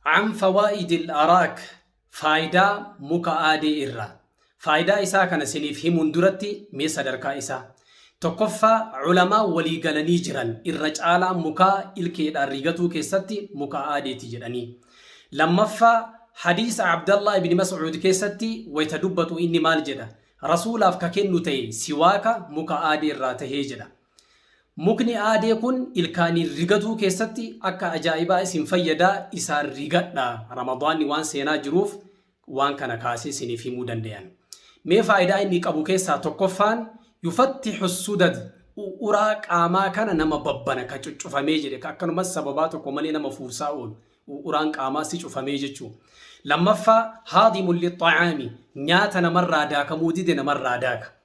An fawaa'idil araak, Faaydaa muka aadee irraa. Faaydaa isaa kana siniif himuun duratti mee sadarkaa isaa. Tokkoffaa ulamaan walii galanii jiran irra caalaan mukaa ilkeedhaan rigatuu keessatti muka aadeeti jedhanii. Lammaffaa hadiisa Abdallah ibn Mas'uud keessatti wayta dubbatu inni maal jedha? Rasuulaaf ka kennu tahe siwaaka muka aadee irraa tahee jedha. Mukni aadee kun ilkaaniin rigatuu keessatti akka ajaa'ibaa isin fayyada isaan rigadha. Ramadaanni waan seenaa jiruuf waan kana kaasee isiniif himuu danda'an. Mee faayidaa inni qabu keessaa tokkoffaan yufattihu sudad uraa qaamaa kana nama babbana ka cuccufamee jedhe ka akkanumas sababaa tokko malee nama fuursaa oolu uraan qaamaa si cufamee jechuu. Lammaffaa haadimul lixxacaami nyaata namarraa daakamuu dide namarraa daaka.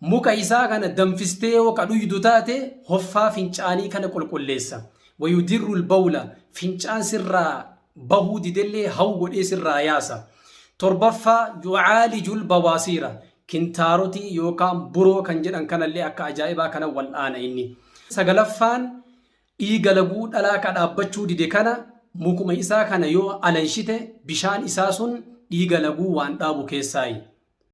Muka isaa kana danfistee yoo ka dhuydu taate, hoffaa fincaanii kana qulqulleessa. Wayudirru lbawla, fincaan sirraa bahuu didellee hawu godhee sirraa yaasa. Torbaffaa, yucaaliju lbawaasiira, kintaarotii yookaan buroo kan jedhan kanallee akka ajaa'ibaa kana wal'aana inni. Sagalaffaan, dhiiga laguu dhalaa ka dhaabbachuu dide kana, mukuma isaa kana yoo alanshite, bishaan isaa sun dhiiga laguu waan dhaabu keessaayi.